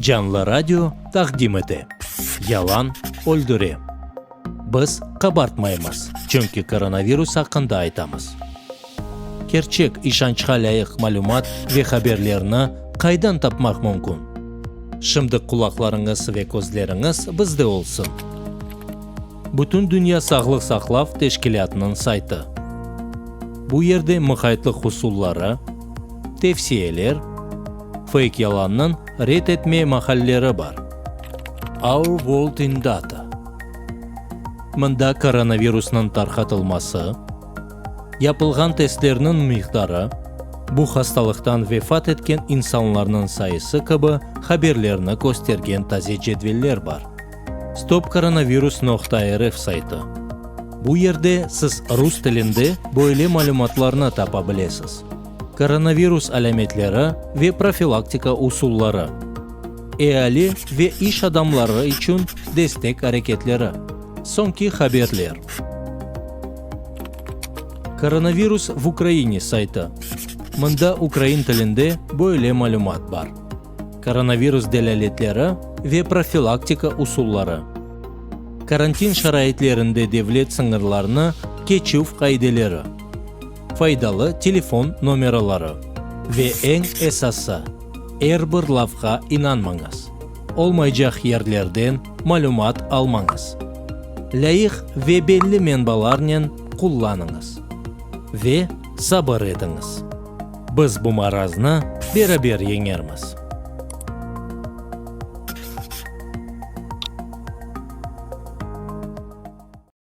Canlı radio taqdim ete, Yalan öldüre. Biz qabartmaymız, çünki koronavirus aqqında aytamız. Kerçek, işançqa lâyıq malümat ve haberlerni qaydan tapmaq mümkün? Şimdi qulaqlarıñız ve közleriñiz bizde olsun! Bütündünya sağlıq saqlav teşkilâtınıñ saytı. Bu yerde muqaytlıq usulları, tevsiyeler, feyk-yalannıñ red etme mahalleri bar. Our World in Data. Mında koronavirusnıñ tarqatılması, yapılğan testlerniñ miqdarı, bu hastalıqtan vefat etken insanlarnıñ sayısı kibi haberlerni köstergen taze cedveller bar. Stopkoronavirus noqta RF saytı Bu yerde siz rus tilinde böyle malümatlarnı tapa bilesiz, Koronavirus alâmetleri ve profilaktika usulları, Eali ve iş adamları içün destek areketleri, Soñki haberler. Koronavirus v Ukrayine saytı Mında ukrayin tilinde böyle malümat bar. Koronavirus delâletleri ve profilaktika usulları Karantin şaraitlerinde devlet sıñırlarını keçüv qaideleri Faydalı telefon nomeraları Ve eñ esası, er bir lafqa inanmañız, olmaycaq yerlerden malümat almañız, lâyıq ve belli menbalarnen qullanıñız ve sabır etiñiz. Biz bu maraznı beraber yeñermiz!